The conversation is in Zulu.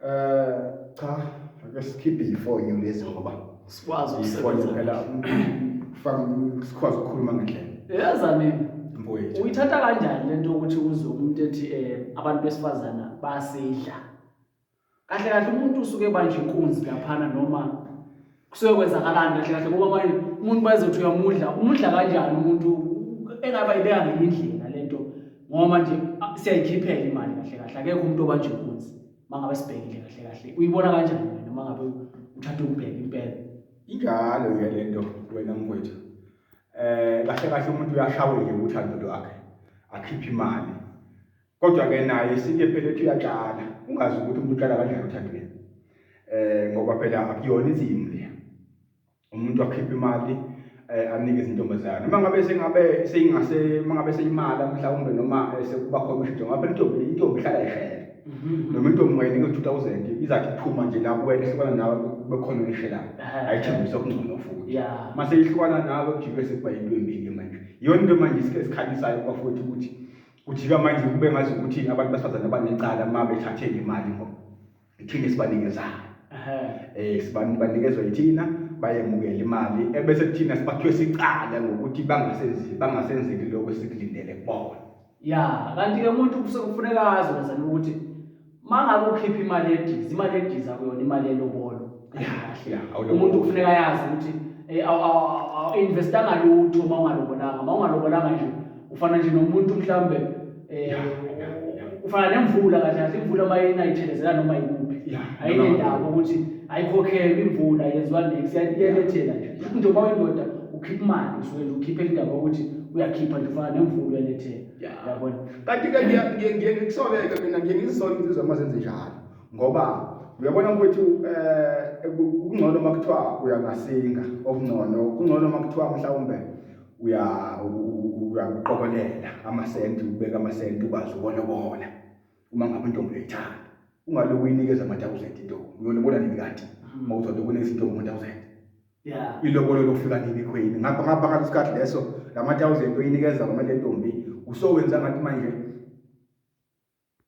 Eh cha ake sikhiphe ifoni lezi ngoba sikwazi ukusebenza phela kufaka sikwazi ukukhuluma ngendlela. Yaza mina mfowethu. Uyithatha kanjani lento ukuthi uzwe umuntu ethi eh abantu besifazana bayasidla. Kahle kahle umuntu usuke ebanje inkunzi laphana noma kusuke kwenzakalani kahle kahle ngoba manje umuntu bazothi uyamudla umudla kanjani umuntu engaba ibeka ngenye indlela le nto ngoba manje ah, siyayikhiphela imali kahle kahle akekho umuntu obanje inkunzi uma ngabe sibhekile kahle kahle uyibona kanjani wena uma ngabe uthatha ukubheka impela injalo ke le nto wena mkwethu um kahle kahle umuntu uyashaweke ukuthi andodo akhe akhiphe imali kodwa ke naye isike phela ethi uyatshala ungazi ukuthi umuntu utshala kanjani uthandile eh ngoba phela akuyona insimu le umuntu akhipha imali eh, anike izintombazana uma ngabe sengabe seyingase uma ngabe seyimala mhlawumbe noma eh, sekuba khona ushintsho ngabe intombi intombi ihlala ihlela mhm. noma intombi ungayinike 2000 izathi iphuma nje la kuwena ehlukana nawe bekhona uyishelayo ayithembisa okungcono futhi uma seyihlukana nawe kujike sekuba yinto embi ke manje iyona into manje isikhe esikhalisayo kwafuthi ukuthi kujika manje kube ngazi ukuthi abantu besifazane abanecala uma bethathe imali ngoba ithina esibanikezana um sibantu banikezwa yithina bayemukela imali ebese kuthina sibathwe sicala ngokuthi bangasenzeli lokho esikulindele kubona ya kanti-ke umuntu kufuneka azi wenzela ukuthi mangabe ukhipha imali yedizi imali yedizi akuyona imali yelobolo umuntu kufuneka yazi ukuthi eh, investa ngalutho uma ungalobolanga uma ungalobolanga nje ufana nje nomuntu mhlawumbe um ufana nemvula kahle kahle imvula uma inayithelezela noma yikuphi ayinendaba ukuthi ayikhokhelwe imvula yenziwa nex iyalethela nje njengoba uyindoda ukhipha imali usuke nje ukhiphe indaba yokuthi uyakhipha nje ufana nemvula uyalethela yabona kanti ke ngiye ngiye ngisoleke mina ngiye ngizisole insizwa uma zenze njalo ngoba uyabona ukuthi um eh, kungcono uma kuthiwa uya ngasinga okungcono kungcono uma kuthiwa mhlawumbe uya uyakuqokelela amasenti ubeka amasenti ukwazi ukolobola uma ngabe intombi uyayithanda ungaloku uyinikeza ama-thousand intombi uyolobola nini kati uma uzothi kunezintombi ama-thousand yeah. ilobolo lokufika nini khwini ngapha ngapha ngaleso sikhathi leso lama-thousand oyinikeza kumele ntombi usowenza ngathi manje